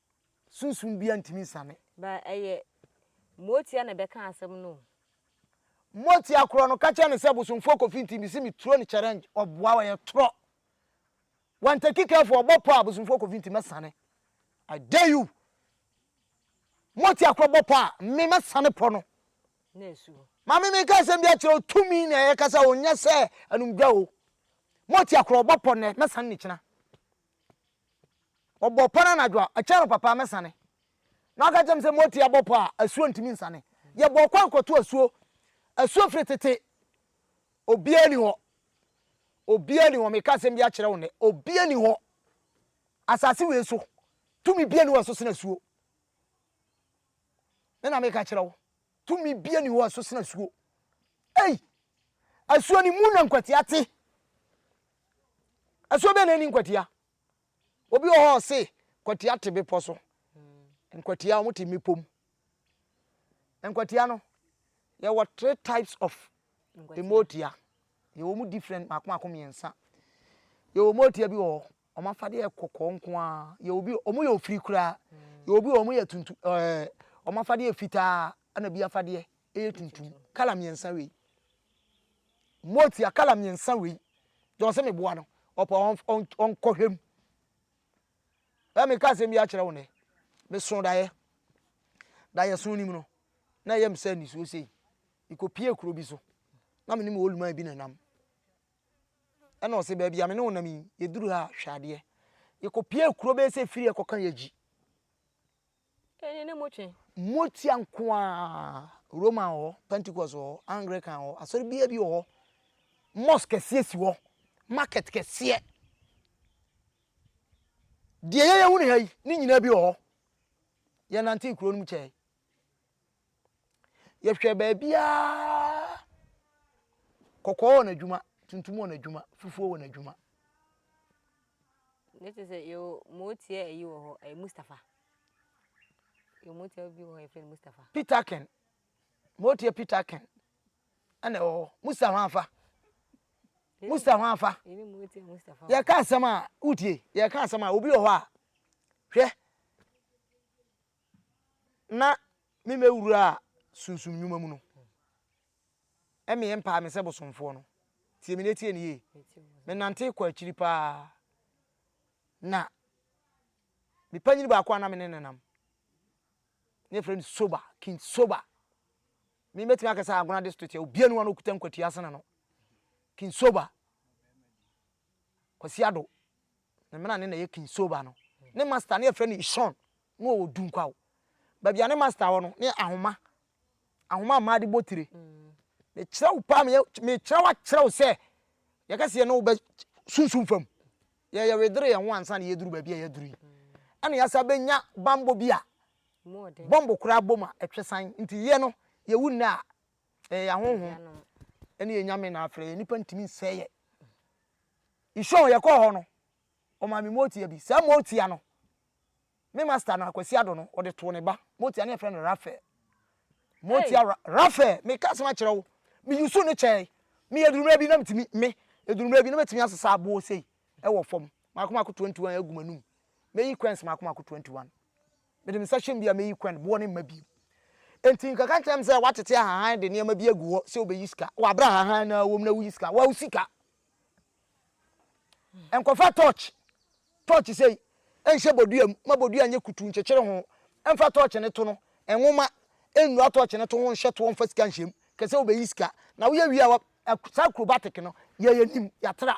Sunsum biara ntumi nsiane. Ba ɛyɛ Motia na ɛbɛka asɛm no o. Motia korɔ no ka kyerɛ no sɛ bosomfoɔ Kofi nti mesi me turo no challenge ɔboa ɔyɛ torɔ Wantaki careful ɔbɔ pɔ a bosomfoɔ Kofi nti mɛsane I dare you Motia korɔ bɔ pɔ a me mɛsane pɔ no Na ɛsu hɔ. Maame meka asɛm bi akyerɛ wo tumi na yɛkasa o nyɛ sɛ anum dwa o Motia korɔ ɔbɔ pɔ nnɛ mɛsane no kyena Ɔbɔ pɔ no anadwo a, ɛkyɛ no papa a, mɛsane. Na ɔka kyerɛ me sɛ, Moti, abɔ pɔ a, asuo ntumi nsane. Yɛbɔɔ kwan kɔto asuo. Asuo firi tete. Obiara ni hɔ. Obiara ni hɔ. Meka asɛm bi akyerɛ wo nnɛ. Obiara ni hɔ. Asase wei so. Tumi biara ni hɔ a ɛso sene asuo. Me na meka kyerɛ wo. Tumi biara ni hɔ a ɛso sene asuo. Ei! Asuo no mu na nkwatia te. Asuo bɛn na ɛnni nkwatia? Obi wɔ hɔ a ɔse nkwatia te bepɔ so. Nkwatia wɔte mmepɔ mu. Nkwatia no, yɛwɔ three types of mmootia. Yɛwɔ mu different mako mako mmiɛnsa. Yɛwɔ mmootia bi wɔ hɔ, wɔn afadeɛ yɛ kɔkɔɔ nko ara. Yɛwɔ bi, wɔn yɛ ofiri koraa. Yɛwɔ bi, wɔn yɛ tuntum, ɛɛ, wɔn afadeɛ yɛ fitaa, ɛna bi afadeɛ yɛ tuntum. Kala mmiɛnsa wei. Moatua kala mmiɛnsa wei deɛ ɔse meboa no ɔpɛ ɔnkɔ hwɛ mu ɛ meka asɛm bi akyerɛ wo nɛ meso daeɛ daeɛ so nim no na ɛyɛ me sɛ nisuo sei mekɔ pie kuro bi so na me ne me oluman bi na nam ɛna ɔse baabi a me ne wo nam yi yɛduru ha hwɛ adeɛ yɛkɔ pie kuro bɛyɛ sɛ firi ɛkɔka yɛgyi Ene ne mo twe. Motia nko ara, Roman wɔ hɔ, Pentecost wɔ hɔ, Anglican wɔ hɔ, asɔre biara bi wɔ hɔ. Mosque kɛseɛ si hɔ, market kɛseɛ. Deɛ yɛyɛ hu ne ha yi, ne nyinaa bi wɔ hɔ. Yɛnantee kuro no mu kyɛe. Yɛhwɛ baabiara, kɔkɔɔ wɔ n'adwuma, tuntum wɔ n'adwuma, fufuo wɔ n'adwuma. Ne te sɛ yɛ mo tie ayi wɔ hɔ ɛyɛ Mustafa yɛ mo tie bi wɔ hɔ yɛ fɛn Mustafa. Peter Ken mo tie Peter Ken ɛna ɛwɔ hɔ Musa ho afa Musa ho afa yɛ ka asɛm a wotie yɛ ka asɛm a obi wɔ hɔ a hwɛ na me mɛ wuraa sunsum nnwuma mu no, ɛmeɛ mpaa me sɛ bosomfoɔ no, tie me na tie ne yie, me nantee kɔ akyiri paa, na me panyini baako a na me ne ne nam, ne yɛfrɛ no Soba, King Soba, me mɛtumi akɛ sɛ Agona district yɛ obiara ni hɔ a na okuta nkwatua sene no, King Soba, Kwasi Addo, ne menane na ɛyɛ King Soba no. Ne master no yɛfrɛ no Ishon, na ɔwɔ Dunkwaw. Baabi a ne master wɔ no, ne yɛ ahoma. Ahoma a mmaa de bɔ tire. Mekyerɛ wo paa, meyɛ, mekyerɛ wo akyerɛ wo sɛ, yɛka sɛ yɛne wo bɛ sunsum fam. Yɛ yɛwedere yɛn ho ansa na yɛduru baabi a yɛaduru yi. Ɛna yɛasa bɛnya bammɔ bi a bɔmbo koraa bom a ɛtwe san. Nti yɛ no, yɛwu nnɛ a, Ɛyɛ yɛn ahonhom ne yɛn nyame na afrɛ yɛn nnipa ntumi nsɛe yɛn. Nsuo yɛkɔɔ hɔ no, ɔmaa me motia bi. Saa motia no, me master no Akwasi Ado no, ɔde too ne ba. Motia no yɛfrɛ no Raphael. Motia ra Raphael, meka asɛm akyerɛ wo, meyusu ne kyɛe. Me adurummerɛ bi na metumi me adurummerɛ bi na mɛtumi asesa aboɔ sei ɛwɔ fam. Maako maako 21 agu m'anum. Mɛyi coins maako maako 21. Mede me nsa hyem bi a meyi kwan boɔ no mma bio. Enti nka ka nkyerɛ me sɛ woatete ahahan de nneɛma bi agu hɔ sɛ wobɛyi sika wɔ aberɛ a ahahan no ara wɔ mu na woyi sika. Waa wo sika. Nkɔfa tɔɔkye, tɔɔkye sei, nhyɛ bodua mu ma bodua nyɛ kutuu nkyekyere ho. Mfa tɔɔkye no to no, nwoma, nnura tɔɔkye no to ho nhyɛ toɔ mfa sika nhyɛ mu. Ka sɛ wobɛyi sika na woyɛ wie a, saa acrobatic no, yɛ yɛn anim, yɛatra.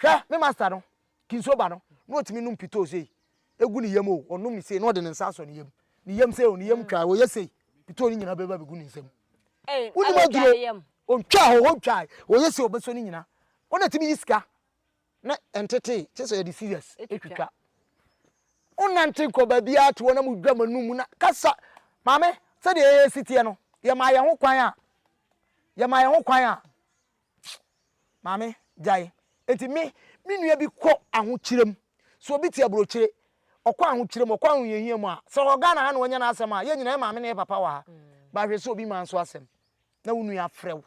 Hwɛ, me master no, kinso ba no, na ɔtumi nom pitoo sei, ɛgu ne yam o, ɔnom no sei, na ɔde ne nsa asɔ ne yam, ne yam sei o, ne yam twae o, ɔyɛ sei, pitoo no nyinaa bɛba abɛgu ne nsam. Wonim aduro, ɔntwaa hɔ, ɔntwae, ɔyɛ sei, ɔbɛsɔ ne nyinaa. Wo na tumi yi sika, na ɛntetee, kyerɛ sɛ yɛde scissors twitwa. Wonante nkɔ baabiara te hɔ na modwa m'anum mu na kasa. Maame, sɛdeɛ yɛn si teɛ no, yɛmaa yɛn ho kwan a, yɛmaa yɛn ho kwan a, Maame, gyae. Enti me me nua bi kɔ ahokyerɛ mu. So obi te aburokyire? Ɔkɔ ahokyerɛ mu, ɔkɔ ahohiahia mu a, sɛ ɔwɔ Ghana ha na wanya n'asɛm a, yɛn nyinaa yɛ maame ne yɛ papa wɔ ha. Ba hwɛ sɛ obi maa nso asɛm na wo nua afrɛ wo.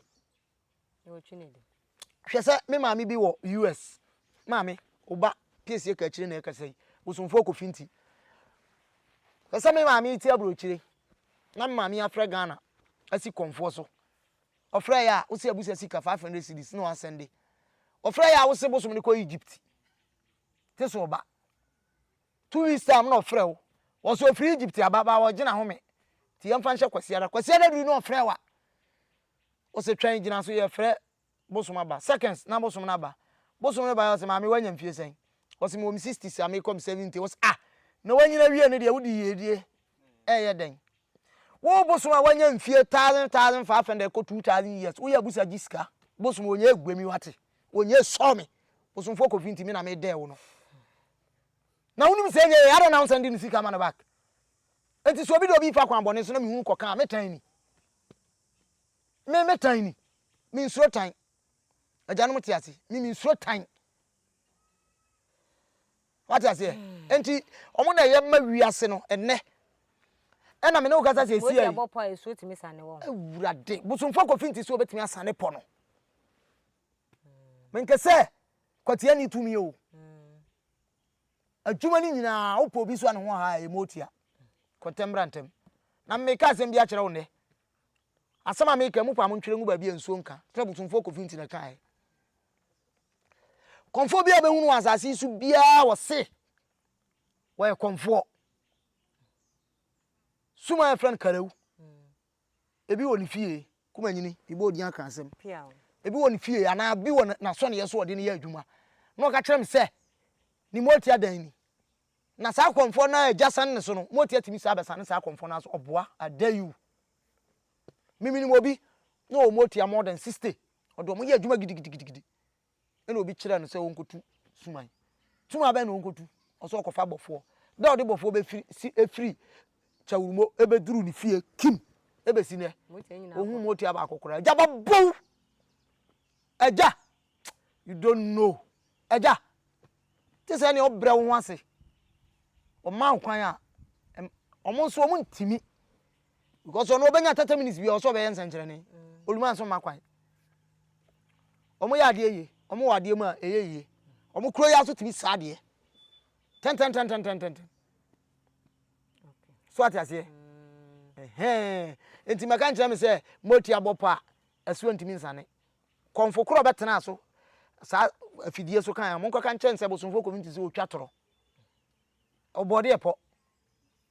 Hwɛ sɛ me maame bi wɔ US. Maame, wo ba piesie ka akyire na ɛkasa yi, bosomfoɔ kɔfi nti. Hwɛ sɛ me maame te aburokyire na me maame afrɛ Ghana asi kɔmfoɔ so. Ɔfrɛ yɛ a wose abusa sika five hundred cedis na wasɛnde. Ɔfrɛ yɛ a wose bosom no kɔ Egypt. Te sɛ ɔba. Two weeks time na ɔfrɛ wo. Wɔse ɔfiri Egypt aba ba ɔgye n'ahome. Nti yɛmfa nhyɛ Kwasiada. Kwasiada duru na ɔfrɛ wa. Wose twɛn gyina so yɛfrɛ bosom aba. Seconds na bosom no aba. Bosom no baeɛ ɔse maame wanya mfie sɛn? Ɔse mewɔ me sixties a mekɔ me seventy. Wose ah! Na wanyini awie no deɛ wode yiedie ɛɛyɛ dɛn? Wo bosom a wanya mfie thousand thousand five hundred kɔ two thousand years woyɛ abusa gye sika bosom ɔnyɛ agua mi wate ɔnyɛ sɔ me bosomfoɔ kɔfi nti me na me dɛɛ wo no na wonim sɛ nyɛ yɛ adɛ na wonsan di ne sika ma no back nti sɛ obi de obi fa kwan bɔne so na mehunu kɔka a metan ni me metan ni mensuro tan agyanom te ase me mensuro tan Wate aseɛ? Enti, wɔn na ɛyɛ ma wiase no ɛnnɛ. Ɛna me ne wo kasa siesie. Mose abɔ pɔ a esuo tumi sane wɔn. Awurade, bosomfoɔ kɔfi nti so obetumi asane pɔ no. Menka sɛ kwatia ni tumi o. Adwuma no nyinaa wopɔ obi so a ne ho ha a emu otia. Kɔntɛm bra ntɛm. Na meka asɛm bi akyerɛ wo nnɛ. Asɛm a meka yi mo paa mo ntwerɛ ngu baabi a nsuo nka, sɛdeɛ bosomfoɔ Kofi Ntina kaeɛ. Kɔmfoɔ biara a wobɛhunu wɔ asase yi so biara wɔse wɔyɛ kɔmfoɔ. Sum a yɛfrɛ no Karew, ebi wɔ ne fie, Kumanyini, mebɔ odin aka asɛm, ebi wɔ ne fie anaa bi wɔ n'asɔneɛ so ɔde no yɛ adwuma na ɔka kyerɛ me sɛ ne moatia dan ni. Na saa kɔmfoɔ no a agya sane ne so no, moatia tumi saa bɛsane saa kɔmfoɔ no ara so, ɔboa, I dare you. Memenim obi, na wɔn atua more than sixty. Ɔde wɔn yɛ adwuma gidigidigidi. Ɛna obi kyerɛ no sɛ ɔnkɔtu suman. Suman bɛn na ɔnkɔtu? Ɔsɛ ɔkɔfa bɔfoɔ. Da ɔde bɔfoɔ bɛfiri si efiri kyawurumo ɛbɛduru ne fie kim ɛbɛsi nɛ. Ohun mu otua baako koraa. Agya ba bow. Agya, you don't know. Agya, te sɛ nea ɔbrɛ wo ho ase. Ɔma wo kwan a, wɔn nso wɔn ntumi. because ɔno ɔbɛnya thirty minutes bi a ɔsɛ ɔbɛyɛ nsɛnkyerɛnne oluma nso mma kwan wɔn yɛ adeɛ yie wɔn wɔ adeɛ mu a ɛyɛ yie wɔn kuro yɛ aso tumi sa adeɛ tɛntɛntɛntɛntɛntɛntɛn so ate aseɛ ɛhɛn nti mɛka nkyerɛ mi sɛ moti abɔ pa ɛso ntumi nsane kɔnfo koro ɔbɛtena so saa afidie so kan a mo nkɔka nkyɛn sɛ bosomfo community sɛ otwa torɔ ɔbɔdeɛ pɔ.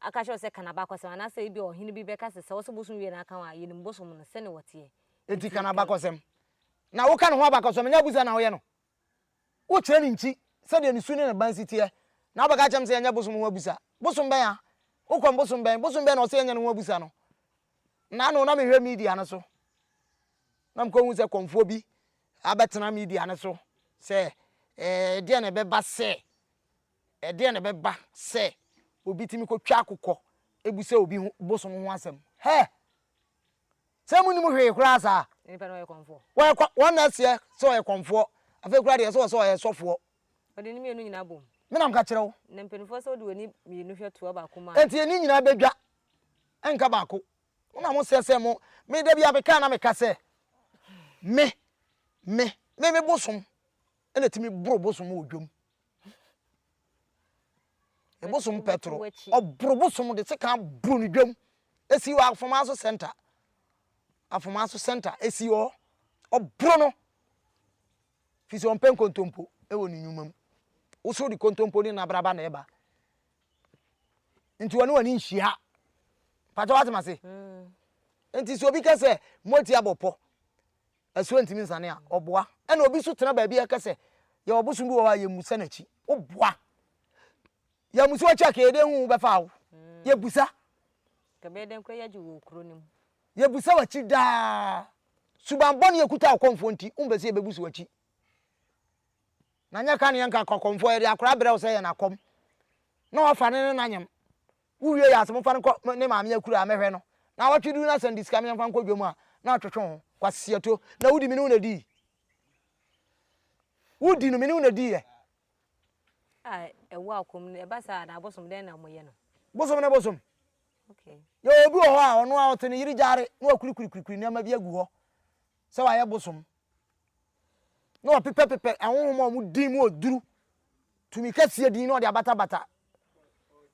Aka akyerɛ wo sɛ ka n'abakɔsɛm, anaasɛ ebia ɔhene bi bɛka sɛ, Sɛ ɔse bosom wie na aka wo a, yenim bosom no, sɛnea wɔteɛ. Enti ka n'abakɔsɛm. Na woka ne ho abakɔsɛm, ɛnyɛ abusa na woyɛ no. Wokyerɛ ne nkyi, sɛdeɛ ne su ne ne ban si teɛ. Na wobɛka akyerɛ me sɛ yɛnyɛ bosom ho abusa. Bosom bɛn a? Wokɔm bosom bɛn? Bosom bɛn na ɔse yɛnyɛ ne ho abusa no? Na ano na mehwɛ media no so, na mekɔhu sɛ kɔmfoɔ bi abɛtena media no so sɛ, Ɛɛ, ɛdeɛn na ɛbɛba sɛ Ɛdeɛn na ɛbɛba sɛ obi tumi kɔtwa akokɔ bisa obi ho bosom ho asɛm? Hɛ! Sɛ monim hwee koraa saa? Nipa no ɔyɛ kɔmfoɔ. Wɔyɛ kɔ, wɔn na ɛseɛ sɛ ɔyɛ kɔmfoɔ. Afei koraa deɛ ɛsɛ wɔ sɛ ɔyɛ sɔfoɔ. Ɔde ne mmienu nyinaa bom. Me na meka kyerɛ wo. Na mpanimfoɔ sɛ wode w'ani mmienu hwɛ toa baako mu a. Enti ani nyinaa bɛdwa, ɛnka baako. Mo na moseɛ sɛ mo, me da biara meka na meka sɛ, Me, me, me, me bosom, na ɛtumi boro bosom wɔ dwam. Ɛbosom pɛtoro, ɔboro bosom de sekan boro no dwam. Ɛsi wɔ afoma so sɛnta. Afoma so sɛnta ɛsi hɔ. Ɔboro no. Firi sɛ ɔmpɛ nkontompo wɔ ne nnwuma mu. Wo so de kontompo ne nabraba na ɛba. Nti wɔne wɔne nhyia. Pakyɛ wate mase? Mm. Nti sɛ obi kɛ sɛ moati abɔ pɔ, Ɛso ntumi nsane a, ɔboa. Ɛna obi nso tena baabi a ɛka sɛ yɛwɔ ɔbosom bi wɔ hɔ a, yɛmmusa n'akyi. Woboa. Yɛammusa w'akyi a, ka yɛde ahu wo bɛfa wo. Yɛbusa. Ka bɛyɛ dɛn koraa yɛagye wɔ kuro no mu. Yɛbusa w'akyi daa. Suban bɔne a ɛkuta ɔkɔmfoɔ nti, wompɛ sɛ yɛbɛbu so w'akyi. Na nyɛ ka ne yɛnka ka ɔkɔmfoɔ, yɛde akora brɛ wo sɛ yɛ n'akɔm, na wafa ne ne n'anyem. Wo wie yɛ a sɛ mo nfa no nkɔ ne maame akuraa mɛ hwɛ no na awɔtwe duru na sɛ no de sika me yɛ nfa nkɔ dwom a na atwetwe ho Kwasi Siato na wo di me ne wo na dii wo di no me ne wo na dii yɛ. A ɛwɔ akom no ɛba saa anaa bosom dɛn na mo yɛ no. Bosom ne bosom. Okay. Yɛwɔ obi wɔ hɔ a ɔno a ɔte ne yere gyare na wakurikuri kurikuri nneɛma bi agu hɔ sɛ wayɛ bosom. na ɔpepɛpepɛ ahonhom a wɔn din mu oduru tumi kɛseɛ din na ɔde abatabata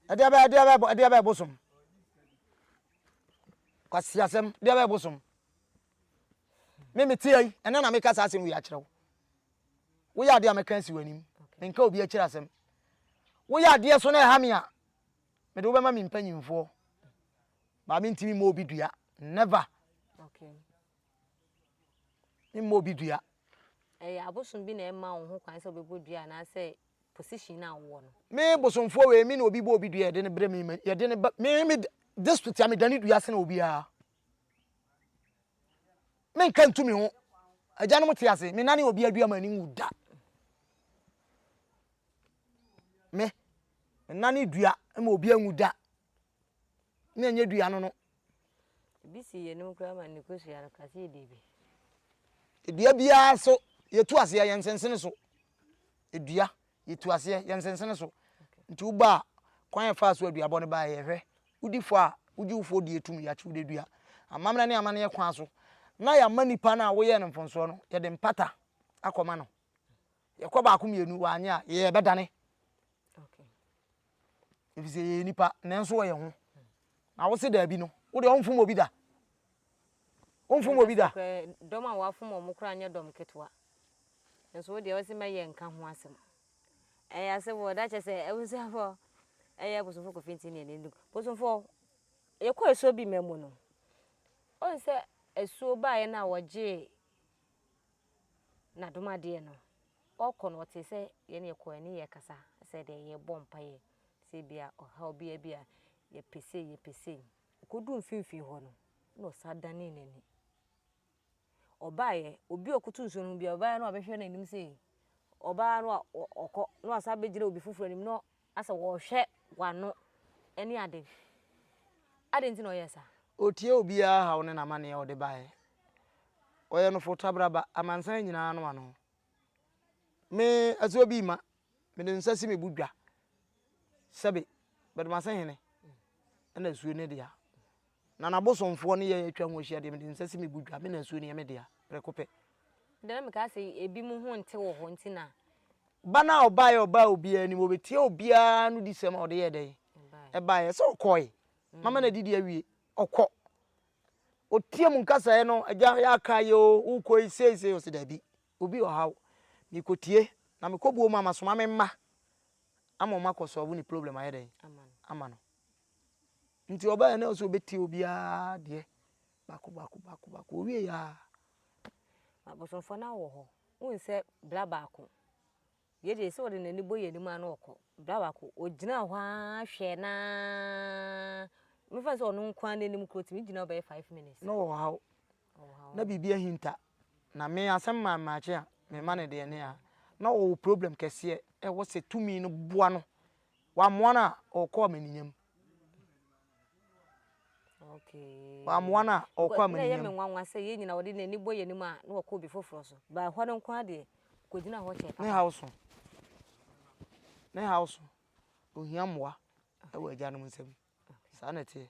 ɛdeɛ bɛyɛ ɛdeɛ bɛyɛ ɛdeɛ bɛyɛ bosom kwasi asɛm ɛdeɛ bɛyɛ bosom me me te yi ɛnɛ na meka saa asɛm wei akyerɛ wo woyɛ adeɛ a mɛka asi w'anim menka obi akyerɛ asɛm woyɛ adeɛ so na ɛha me a mede wobɛma me mpanyimfoɔ baa mentumi mmɔ obi dua never Mma obi dua. Ɛyɛ abosom bi na ɛma wo ho kwan sɛ wobɛbɔ dua anaasɛ position no a wowɔ no. Me bosomfoɔ wei me ne obi bɔ obi dua yɛde no brɛ me ma yɛde no ba me me district a medane dua sene obiara. Menka ntu me ho. Agyanom te ase menane obi adua m'ani nwu da. Me menane dua ma obi anwu da. na ɛnyɛ dua no no. Ebi si yɛn anim koraa ma ne kosua no ka sɛ yɛdi bi. Dua biara so yɛtu aseɛ yɛn nsensene so. Dua yɛtu aseɛ yɛn nsensene so. Nti wo ba a kwan yɛ faa so aduabɔ no baa yɛhwɛ. Wodi fɔ a wogye wo fɔ di etum yɛakye wo de dua. Amammerɛ ne amanneɛ kwan so na yɛama nipa no a woyɛɛ no mfomsoɔ no yɛde mpata akɔma no. Yɛkɔ baako mmienu wanyɛ a yɛbɛdane ɛfiri sɛ yɛyɛ nipa nanso ɔyɛ ho na wo se daabi no wode ɔmfom obi da ɔmfom obi da dɔm a wafom ɔmo koraa nyɛ dɔm ketewa nso wo deɛ ɔse mɛyɛ nka ho asɛm ɛyɛ asɛbɔ da kyɛ sɛ abusuafoɔ ɛyɛ abosomfo kofi nti neɛ ne bosomfoɔ yɛkɔ asuo bi ma mu no ɔn sɛ asuo baeɛ no a wɔgyee N'adomadeɛ no, ɔkɔ no ɔte sɛ yɛn yɛkɔ yɛne yɛ kasa sɛ deɛ yɛbɔ mpaeɛ sɛ ebia ɔhaw bi abi a yɛpɛ sei yɛpɛ sei ɔkɔduu mfimfini hɔ no na ɔsa danee n'ani ɔbaeɛ obi a ɔkoto nsuo no ho biara ɔbaeɛ no a ɔbɛhwɛ n'anim sei ɔbaa no a ɔkɔ na wasa bɛgyina obi foforɔ anim na Na sɛ wɔhwɛ w'ano ne ade. Adɛn nti na ɔyɛɛ saa? Ɔtiee obiara haw ne n'amanneɛ a ɔde baeɛ. Ɔyɛ no fo tabraba, amansan nyinaa no ano. Me, Asuo-Abima, mede nsa si me bo dwa sɛ be, Badumasehene na asuo no dea. Na n'abosomfoɔ ne yɛn atwa ho ahyia deɛ, mede me nsa si me bodwa, me na asuo no yɛ me dea, prɛko pɛ. Deɛ na mekaa sɛ ebinom ho nte wɔ hɔ nti na. Ba no a ɔbaeɛ a ɔbaa obiara anim, ɔbɛtiee obiara anodisɛm a ɔde yɛɛ dɛn? Ɛbaeɛ. Ɛsɛ sɛ ɔkɔe. Mama no adidi awie. Ɔkɔ. Ɔtie mu nkasaeɛ no, agya, yɛaka ayɛ o, wokɔ yi sei sei, ɔse daabi, obi wɔ ha o, mekɔtie, na mekɔbuo mu a, masoma me mma ama wɔakɔ solve ne problem ayɛ dɛn? Ama no. Nti ɔbaeɛ na ɔsɛ ɔbɛtie obiara deɛ baako baako baako baako ɔwieɛ a. Abosomfoɔ no awɔ hɔ wohu sɛ bra baako wei deɛ ɛsɛ ɔde n'ani bɔ yɛn anim na ɔkɔ bra baako ɔgyina hɔ ara hwɛɛ no ara mefa no sɛ ɔno nko ara n'anim koraa ɔtumi gyina hɔ bɛyɛ five minutes. na ɔwɔ haw na biribi ahinta na me asɛm maa mmaakye a mema no deɛ ne a na ɔwɔ problem kɛseɛ ɛwɔ sɛ tumi no boa no Wammoa no a ɔkɔ amaninyam. Okay. Wammoa no a ɔkɔ amaninyam. Na yɛ me nwanwa sɛ yɛn nyina wɔde n'ani bɔ yɛn anim a na wɔkɔ obi foforɔ so. Ba hɔ no nko adeɛ kɔgyina hɔ kyɛ. Ne haw so. Ne haw so. Ohia mmoa wɔ agyanom nsam. Saa na ɛteɛ.